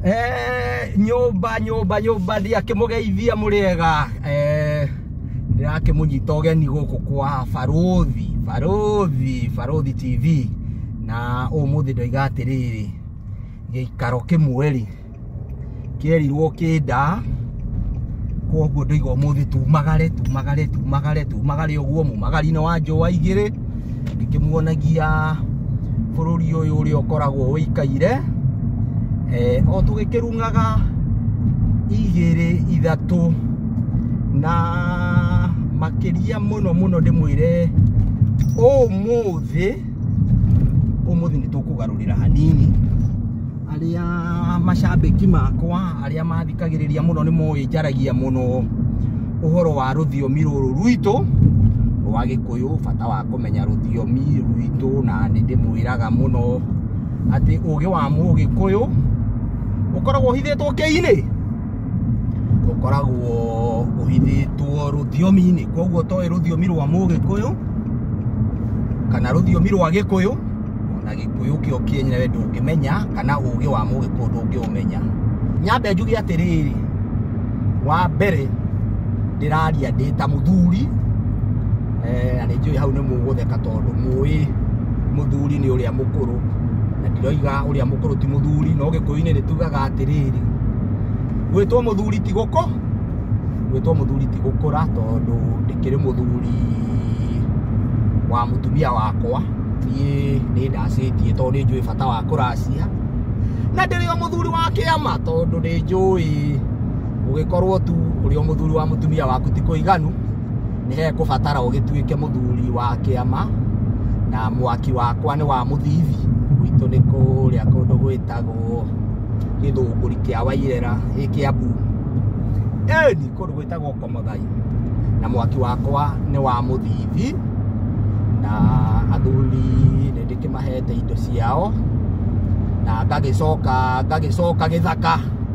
Eh, nyũmba nyũmba nyũmba ndiakĩmũgeithia mũrĩega eh, ndĩrakĩmũnyita ũgeni gũkũ kwa barũthi barũthi barũthi tv na ũmũthĩ ndoiga atĩrĩrĩ gĩikaro kĩmwe rĩ kĩerirwo kĩnda koguo ndoiga ũmũthĩ tumagare tumagare tumagare tumagare ũguo mumagari-inĩ wa njũa igĩrĩ ngĩkĩmuonagia bũrũri ũyũ ũrĩa ũkoragwo ũikaire eh, o tũgĩkĩrungaga igĩrĩ ithatũ na makĩria mũno mũno ndĩmwĩre ũmũthĩ Ũmũthĩ nĩ tũkũgarũrĩra hanini arĩa macambĩki makwa arĩa mathikagĩrĩria mũno nĩ moĩ njaragia mũno ũhoro wa rũthiomi rũrũ rwitũ rwa gĩkũyũ bata wa kũmenya rũthiomi rwitũ na nĩ ndĩmwĩraga mũno atĩ ũgĩ wa mũgĩkũyũ ũkoragwo ũhithĩtwo kĩ-inĩ ũkoragwo ũhithĩtwo rũthiomi-inĩ koguo toĩ rũthiomi rwa mũgĩkũyũ kana rũthiomi rwa gĩkũyũ na gĩkũyũ kĩo kĩenyewe ndũngĩmenya kana ũgĩ wa mũgĩkũyũ ndũngĩũmenya nyambe njuge atĩrĩrĩ wa mbere ndĩraria ndĩ ta mũthuri eh, na nĩ njũĩ hau nĩ mũgũtheka tondũ mũĩ mũthuri nĩ ũrĩa mũkũrũ na ndiroiga ũrĩa mũkũrũ ti mũthuri no gĩkũyũ-inĩ nĩ tugaga atĩrĩrĩ gwĩtwo mũthuri ti gũkũ gwĩtwo mũthuri ti gũkũra tondũ ndĩkĩrĩ mũthuri wa mũtumia wakwa niĩ nĩ ndacĩtie tondũ nĩ njũĩ bata wa kũracia na ndĩrĩ o mũthuri wa kĩama tondũ nĩ njũĩ ũgĩkorwo tu ũrĩ o mũthuri wa mũtumia waku ti kũiganu nĩ hekũbatara ũgĩtuĩke mũthuri wa kĩama na mwaki wakwa nĩ wa mũthithi gwitũ nĩ kũrĩa kũndũ gwĩtagwo gĩthũngũri kĩa wairera gĩ kĩambu ĩni kũndũ gwĩtagwo komothai na mwaki wakwa nĩ wa mũthithi na athuri nĩ ndĩkĩmahete indo ciao na ngagĩcoka ngagĩcoka gĩthaka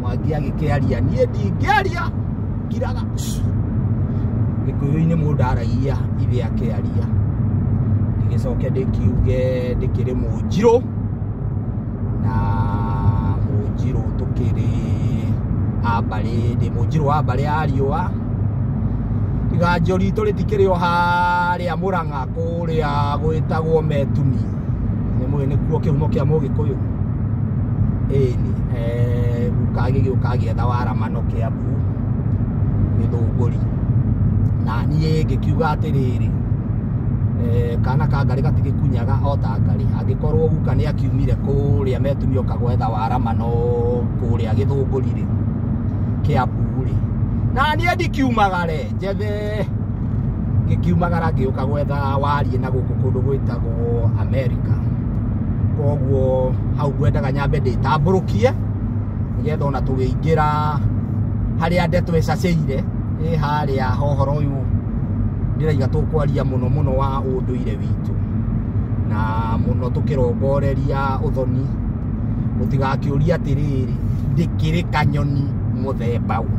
mwangi agĩkĩaria niĩ ndingĩaria ngiraga gĩkũyũ-inĩ mũndũ aragia ithe akĩaria ndĩgĩcoke ndĩkiuge ndĩkĩrĩ mũnjirũ na mũnjirũ tũkĩrĩ ambarĩ ndĩ mũnjirũ wa mbarĩ ya riũa tiga njũri tũrĩ tikĩrĩ o harĩa mũrang'a kũrĩa gwĩtagwo metumi nĩ mũĩ nĩkuo kĩhumo kĩa mũgĩkũyũ ĩni guka gĩgĩũka gĩetha waramano kĩambu gĩthũngũri na niĩ ngĩkiuga atĩrĩrĩ eh, kana ka ngarĩ gatigĩkunyaga o ta ngarĩ angĩkorwo guka nĩ akiumire kũrĩa metumi oka gwetha waramano kũrĩa gĩthũngũri-rĩ kĩambu-rĩ na niĩ ndikiumagare njathe ngĩkiumagara ngĩũka gwetha wariĩ na gũkũ kũndũ gwĩtagwo amerika koguo hau ngwendaga nyambe ndĩtambũrũkie nĩgetha ona tũgĩingĩra harĩa ndeto ĩcacĩire ĩ harĩa hohoro ũyũ ndĩraiga tũkwaria mũno mũno wa ũndũire witũ na mũno tũkĩrongoreria ũthoni mũtigakĩũrie atĩrĩrĩ ndĩkĩrĩ kanyoni mũthemba ũ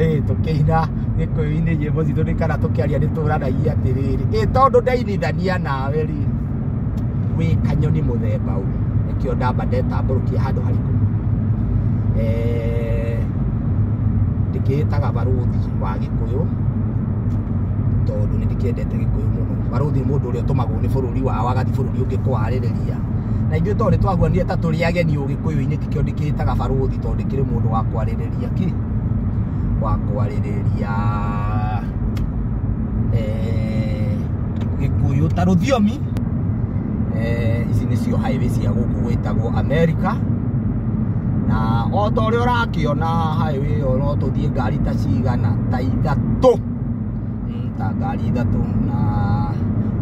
ĩĩ tũkĩina gĩkũyũ-inĩ nyĩmbo citũ nĩ kana tũkĩaria nĩ tũranagia atĩrĩrĩ ĩ tondũ ndeithithania nawe rĩ wĩ kanyoni mũthemba ũ nĩkĩo ndamba ndetambũrũkia handũ harĩkũ Eh, ndĩkĩĩtaga barũthi wa gĩkũyũ tondũ nĩ ndĩkĩendete ta gĩkũyũ mũno barũthi nĩ mũndũ ũrĩa ũtũmagwo nĩ bũrũri wao agathiĩ bũrũri ũngĩ kwarĩrĩria na ithuĩ tondũ nĩ twaguanire ta tũrĩ ageni ũgĩkũyũ-inĩ tikĩo ndĩkĩĩtaga barũthi tondũ ndĩkĩrĩ mũndũ wa kwarĩrĩria kĩ wa kwarĩrĩria eh, gĩkũyũ ta rũthiomi eh, ici nĩcio highway cia gũkũ gwĩtagwo america na o ta ũrĩa ũrakĩona highway ĩyo no tũthiĩ ngari ta cigana ta ithatũ Mm, ta ngari ithatũ na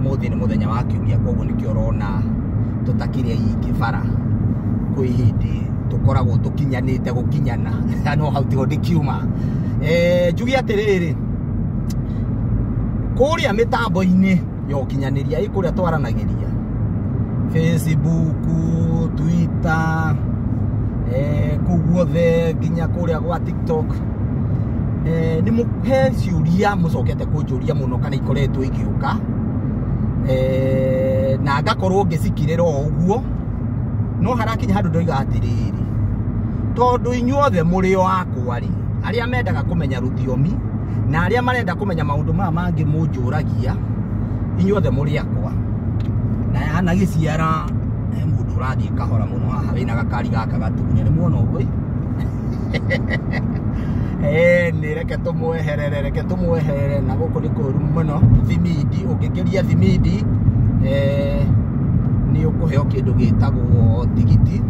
mũthĩ nĩ mũthenya wa kiumia koguo nĩkĩo ũrona tũtakĩrĩ aingĩ bara kwĩ hĩndĩ tũkoragwo tũkinyanĩte gũkinyana no hau tiho ndĩkiuma Eh, njuge atĩrĩrĩ kũrĩa mĩtambo-inĩ ya ũkinyanĩria ĩ kũrĩa twaranagĩria facebook twitter eh, kũu guothe nginya kũrĩa gwa tiktok eh, nĩ mũ- he ciũria mũcokete kũnjũria mũno kana ikoretwo igĩũka eh, na ngakorwo ngĩcikirĩra o ũguo no harakinya handũ ndoiga atĩrĩrĩ tondũ inyuothe mũrĩ o akwa rĩ arĩa mendaga kũmenya rũthiomi na arĩa marenda kũmenya maũndũ maya mangĩ mũnjũragia inyuothe mũrĩ akwa na hana gĩciara he mũndũ ũrathiĩ kahora mũno haha wĩna gakari gaka gatune nĩ muona ũguo ĩ? Eh, nĩ reke tũmweherere reke tũmweherere na gũkũ nĩ kũru mũno thimindi ũngĩkĩria thimindi eh, nĩ ũkũheo kĩndũ gĩtagwo tigiti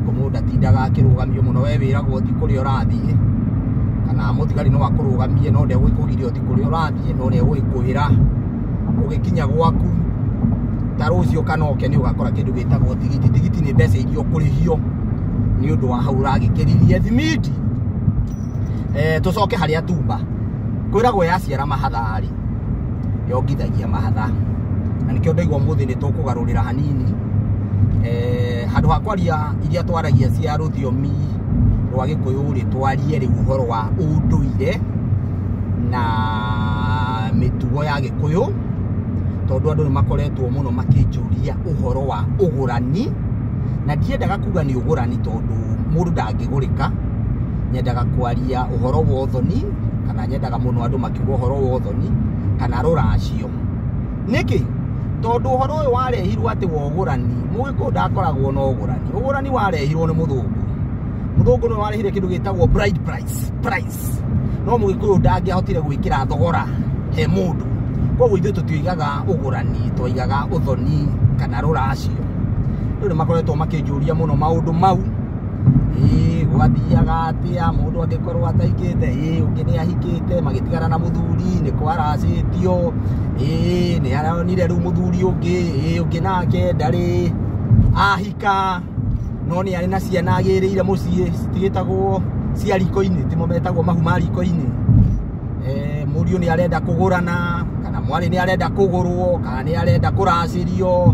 kũmũ ndatindaga akĩrũgamio mũno we wĩragwo ti kũrĩa ũrathiĩ kana mũthigari no akũrũgamie no ndegũkũgiria ũthiĩ kũrĩa ũrathiĩ no nĩ egũgĩkwĩra ũgĩkinya gwaku ta rũciũ kana oke nĩ ũgakora kĩndũ gĩtagwo tigiti tigiti nĩ mbeca iria ũkũrĩhio nĩ ũndũ wa hau ũragĩkĩririe thimiti eh, tũcoke harĩa tumba kwĩragwo yaciara mahatha-rĩ yongithagia mahatha na nĩkĩo ndaigua ũmũthĩ nĩ tũkũgarũrĩra hanini eh, handũ ha kwaria iria twaragia cia rũthiomi rwa gĩkũyũ rĩ twarie rĩu ũhoro wa ũndũire na mĩtugo ya gĩkũyũ tondũ andũ nĩ makoretwo mũno makĩnjũria ũhoro wa ũgũrani na ndiendaga kuga nĩ ũgũrani tondũ mũndũ ndangĩgũrĩka nyendaga kwaria ũhoro wa ũthoni kana nyendaga mũno andũ makiuga ũhoro wa ũthoni kana rũracio. nĩkĩ tondũ ũhoro ũyũ warehirwo atĩ wa ũgũrani mũgĩkũyũ ndakoragwo na ũgũrani ũgũrani warehirwo nĩ mũthũngũ mũthũngũ nĩ warehire kĩndũ gĩtagwo bride price price no mũgĩkũyũ ndangĩahotire gwĩkĩra thogora he mũndũ koguo ithuĩ tũtiaigaga ũgũrani twaigaga ũthoni kana rũracio rĩu nĩ makoretwo makĩnjũria mũno maũndũ mau ũgathiaga atĩa mũndũ angĩkorwo ataikĩte ĩĩ ũngĩ nĩ ahikĩte magĩtigana na mũthuri nĩ kwaracĩtio ĩĩ nĩ aronire rĩu mũthuri ũngĩ ĩĩ ũngĩ nake ndarĩ ahika no nĩ arĩ na ciana agĩrĩire mũciĩ citigĩtagwo cia riko-inĩ timo metagwo mahu ma riko-inĩ mũriũ nĩ arenda kũgũrana kana mwarĩ nĩ arenda kũgũrwo kana nĩ arenda kũracĩrio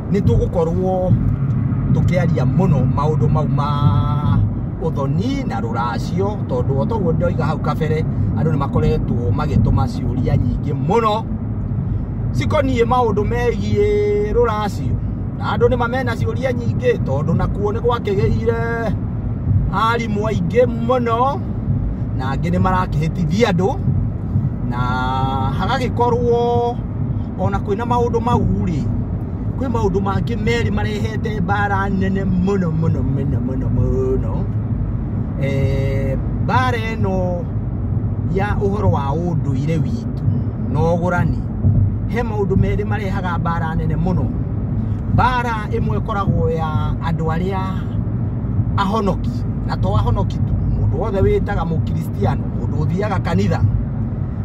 nĩ tũgũkorwo tũkĩaria mũno maũndũ mau ma ũthoni na rũracio tondũ o toguo ndoiga hau kabere andũ nĩ makoretwo magĩtũma ciũria nyingĩ mũno cikoniĩ maũndũ megiĩ rũracio na andũ nĩ mamena ciũria nyingĩ tondũ nakuo nĩ gwakĩgĩire arimũ aingĩ mũno na angĩ nĩ marakĩhĩtithia andũ na hagagĩkorwo ona kwĩna maũndũ mau rĩ kwĩ maũndũ mangĩ merĩ marehete mbara nene mũno mũno mũno mũno mũno Eh, mbara ĩno ya ũhoro wa ũndũire witũ na ũgũrani he maũndũ merĩ marehaga mbara nene mũno mbara ĩmwe ĩkoragwo ya andũ arĩa ahonoki na to ahonoki tu mũndũ wothe wĩtaga mũkristo Christian mũndũ ũthiaga kanitha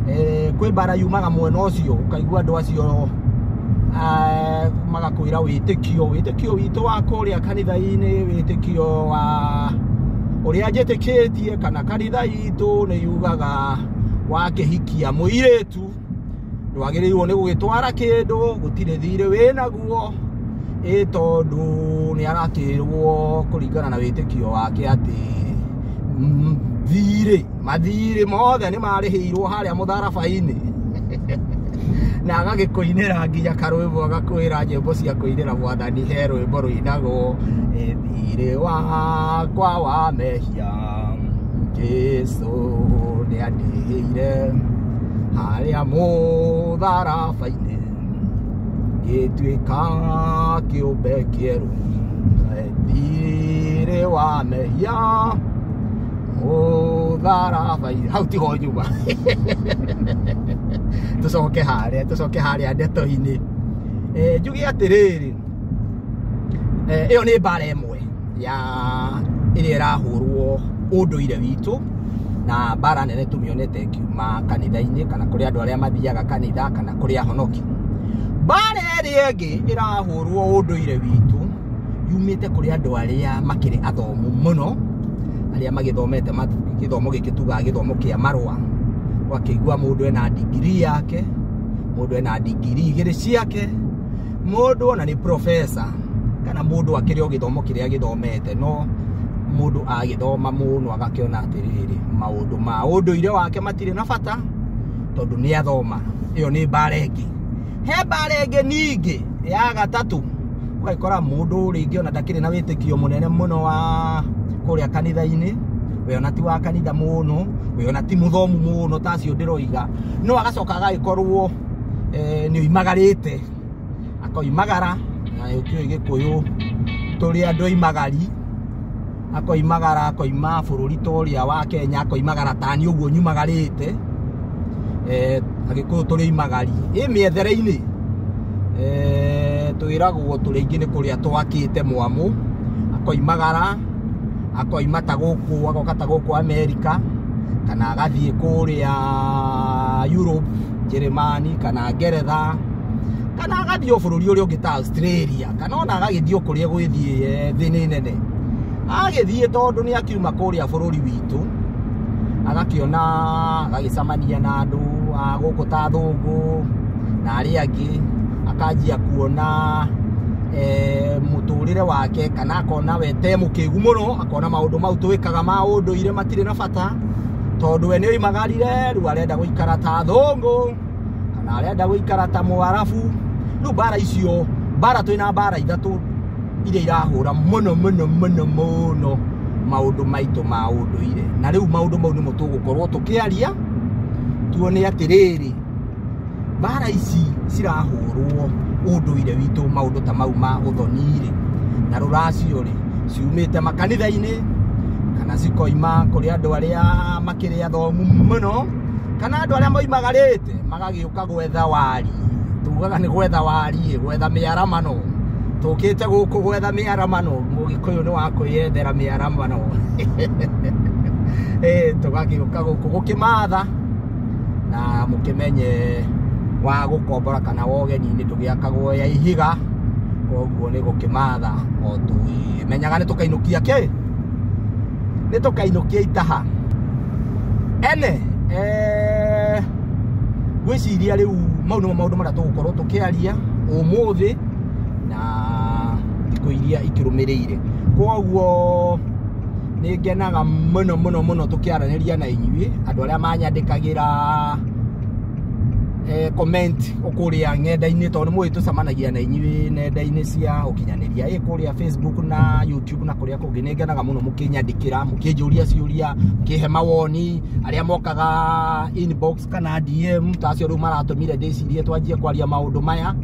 eh, kwĩ mbara yumaga mwena ũcio ũkaigua andũ acio eh, magakwĩra wĩtĩkio wĩtĩkio witũ wa kũrĩa kanitha-inĩ wĩtĩkio wa ũrĩa njĩtĩkĩtie kana kanitha itũ nĩ yugaga wakĩhikia mũirĩtu ndwagĩrĩirwo nĩ gũgĩtwara kĩndũ gũtirĩ thirĩ wĩnaguo ĩ tondũ nĩ aratĩrwo kũringana na wĩtĩkio wake atĩ mm, thirĩ mathirĩ mothe nĩ marĩhĩirwo harĩa mũtharaba-inĩ na agagĩkũinĩra nginya karwĩmbo agakwĩra nyĩmbo cia kũinĩra mwathani he rwĩmbo rũinagwo "Ĩ thirĩ wakwa wa mehia Jesu nĩ andĩhĩire harĩa mũtharaba-inĩ ngĩtuĩka kĩũmbe kĩerũ thirĩ wa mehia mũtharaba-inĩ hau tiho nyuma tũcoke harĩa tũcoke harĩa ndeto-inĩ njuge atĩrĩrĩ ĩyo nĩ mbara ĩmwe ya ĩrĩa ĩrahũrwo ũndũire witũ na mbara nene tũmĩonete ĩkiuma kanitha-inĩ kana kũrĩ andũ arĩa mathiaga kanitha kana kũrĩ ahonoki mbara ĩrĩa ĩngĩ ĩrahũrwo ũndũire witũ yumĩte kũrĩ andũ arĩa makĩrĩ athomu mũno arĩa magĩthomete gĩthomo gĩkĩ tugaga gĩthomo kĩa marũa wakĩigua mũndũ ena ndigiri yake mũndũ ena ndigiri igĩrĩ ciake mũndũ ona nĩ professor kana mũndũ akĩrĩ o gĩthomo kĩrĩa gĩthomete no mũndũ agĩthoma mũno agakĩona atĩrĩrĩ maũndũ ma ũndũire wake matirĩ na bata tondũ nĩ athoma ĩyo nĩ mbara ĩngĩ he mbara ĩngĩ ningĩ ya gatatũ ũgakora mũndũ rĩngĩ ona ndakĩrĩ na wĩtĩkio mũnene mũno wa kũrĩa kanitha-inĩ we ona ti wa kanitha mũno we ona ti mũthomu mũno ta acio ndĩroiga no agacoka agagĩkorwo nĩ oimagarĩte akoimagara na ũkĩũĩ gĩkũyũ tũrĩ andũ aimagari akoimagara akoima bũrũri ta ũrĩa wa kenya akoimagara tani ũguo nyumagarĩte agĩkũyũ tũrĩ aimagari ĩ mĩethere-inĩ twĩragwo tũrĩ aingĩ nĩ kũrĩa twakĩte mwamũ akoimagara akoima ta gũkũ agoka ta gũkũ amerika kana agathiĩ kũrĩa Europe njeremani kana ngeretha kana agathiĩ o bũrũri ũrĩa ũngĩ ta australia kana ona agagĩthiĩ o kũrĩa gwĩthiĩ eh, thĩ nĩ nene agagĩthiĩ tondũ nĩ akiuma kũrĩa bũrũri witũ agakĩona agagĩcamania na andũ a gũkũ ta thũngũ na arĩa angĩ akanjia kuona eh, mũtũrĩre wake kana akona we te mũkĩgu mũno akona maũndũ mau twĩkaga ma ũndũire matirĩ na bata tondũ we nĩ oimagarire rĩu arenda gũikara ta thũngũ kana arenda gũikara ta mũarabu rĩu mbara icio mbara twĩ na mbara ithatũ iria irahũra mũno mũno mũno mũno maũndũ maitũ ma ũndũire na rĩu maũndũ mau nĩmo tũgũkorwo tũkĩaria tuone atĩrĩrĩ mbara ici cirahũrwo ũndũire witũ maũndũ ta mau ma ũthoni-rĩ na rũracio-rĩ ciumĩte makanitha-inĩ kana cikoima kũrĩ andũ arĩa makĩrĩ athomu mũno kana andũ arĩa moimagarĩte magagĩũka gwetha wari tugaga nĩ gwetha wari gwetha mĩaramano tũkĩte gũkũ gwetha mĩaramano mũgĩkũyũ nĩ wa kwĩyethera mĩaramano tũgagĩũka gũkũ gũkĩmatha na mũkĩmenye wa gũkombora kana wa ũgeni-inĩ ndũgĩakagwo ya ihiga koguo nĩ gũkĩmatha o tũmenyaga nĩ tũkainũkia kĩ nĩ tũkainũkia itaha ene eh, ngwĩciria rĩu mau nĩmo maũndũ marĩa tũgũkorwo tũkĩaria ũmũthĩ na thikũ iria ikĩrũmĩrĩire koguo nĩ ngenaga mũno mũno mũno tũkĩaranĩria na inyuĩ andũ arĩa manyandĩkagĩra eh, comment kũrĩa ng'enda-inĩ tondũ nĩ mũĩ tũcemanagia na inyuĩ nenda-inĩ cia ũkinyanĩria ĩ kũrĩa facebook na youtube na kũrĩa kũngĩ nĩ ngenaga mũno mũkĩnyandĩkĩra mũkĩnjũria ciũria mũkĩhe mawoni arĩa mokaga inbox kana DM ta acio rĩu maratũmire ndĩcirie twanjie kwaria maũndũ maya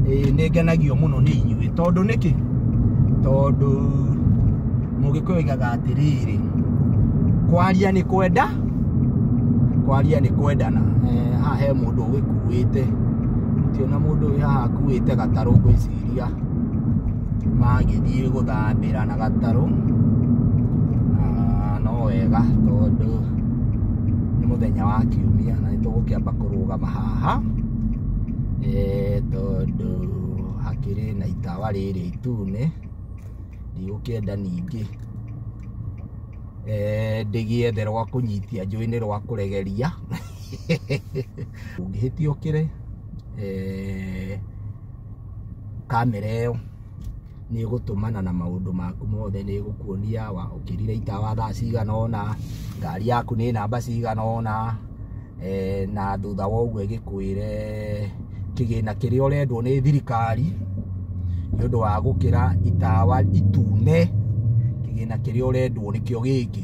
ĩĩ, nĩ ngenagio mũno nĩ inyuĩ tondũ nĩkĩ tondũ mũgĩkũyũ oigaga atĩrĩrĩ kwaria nĩ kwenda kwaria nĩ kwendana Eh, haha he mũndũ ũgĩkuĩte tionya mũndũ ũyũ haha akuĩte gatarũ ngwĩciria magĩthiĩ gũthambĩra na gatarũ na no wega tondũ nĩ mũthenya wa kiumia na nĩtũgũkĩamba kũrũgama haha eh, tondũ hakĩrĩ na itawa rĩrĩ itune ndigũkĩenda ningĩ eh, ndĩgĩethe rwa kũnyitia njũĩ-inĩ rwa kũregeria ũngĩhĩtia ũkĩre eh, kamera ĩyo nĩ ĩgũtũmana na maũndũ maku mothe nĩ ĩgũkuonia wa ũkĩrire itawa thaa cigana ũna ngari yaku nĩ namba cigana ũna eh, na thutha wa ũguo ĩgĩkwĩre kĩgĩna kĩrĩa ũrendwo nĩ thirikari nĩ ũndũ wa gũkĩra itawa itune kĩgĩna kĩrĩa ũrendwo nĩkĩo gĩkĩ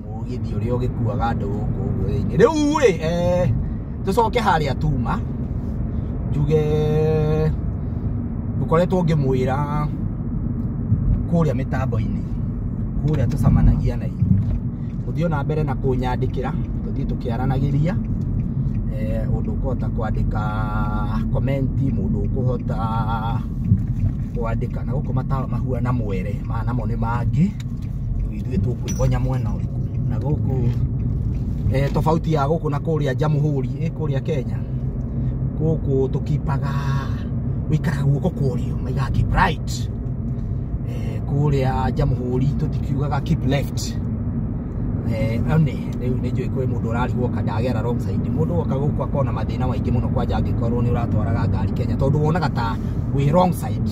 mũgithi ũrĩa ũgĩkuaga andũ gũkũ ũguo thĩinĩ rĩu rĩ eh, tũcoke harĩa tuma njuge ngoretwo ngĩmwĩra kũrĩa mĩtambo-inĩ kũrĩa tũcamanagia na inyuĩ mũthiĩ ona mbere na kũnyandĩkĩra tũthiĩ tũkĩaranagĩria eh, ũndũ ũkũhota kwandĩka komenti mũndũ ũkũhota kwandĩka na gũkũ matawa mahuana mwere ma namo nĩ mangĩ rĩu ithuĩ tũkwĩgonya mwena ũrĩkũ na gũkũ eh, tofauti ya gũkũ na kũrĩa Jamhuri eh, kũrĩa Kenya gũkũ tũkipaga wĩikaraga guoko kũrĩo maigaga keep right eh, kũrĩa Jamhuri tũtikiugaga keep left eh, one rĩu nĩ njũĩ kwĩ mũndũ ũrarigwo ka ndagera wrong side mũndũ woka gũkũ akona mathĩna maingĩ mũno kwanja angĩkorwo nĩ ũratwaraga ngari Kenya tondũ wonaga ta wĩ wrong side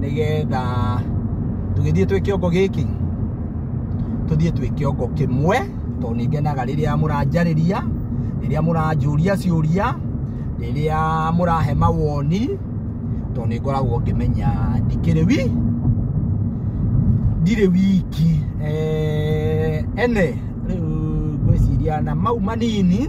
nĩgetha tũgĩthiĩ twĩ kĩongo gĩkĩ tũthiĩ twĩ kĩongo kĩmwe tondũ nĩ ngenaga rĩrĩa mũranjarĩria rĩrĩa mũranjũria ciũria rĩrĩa mũrahe mawoni tondũ nĩ ngoragwo ngĩmenya ndikĩrĩ wi ndirĩ wiki Eh, ene rĩu ngwĩciria na mau manini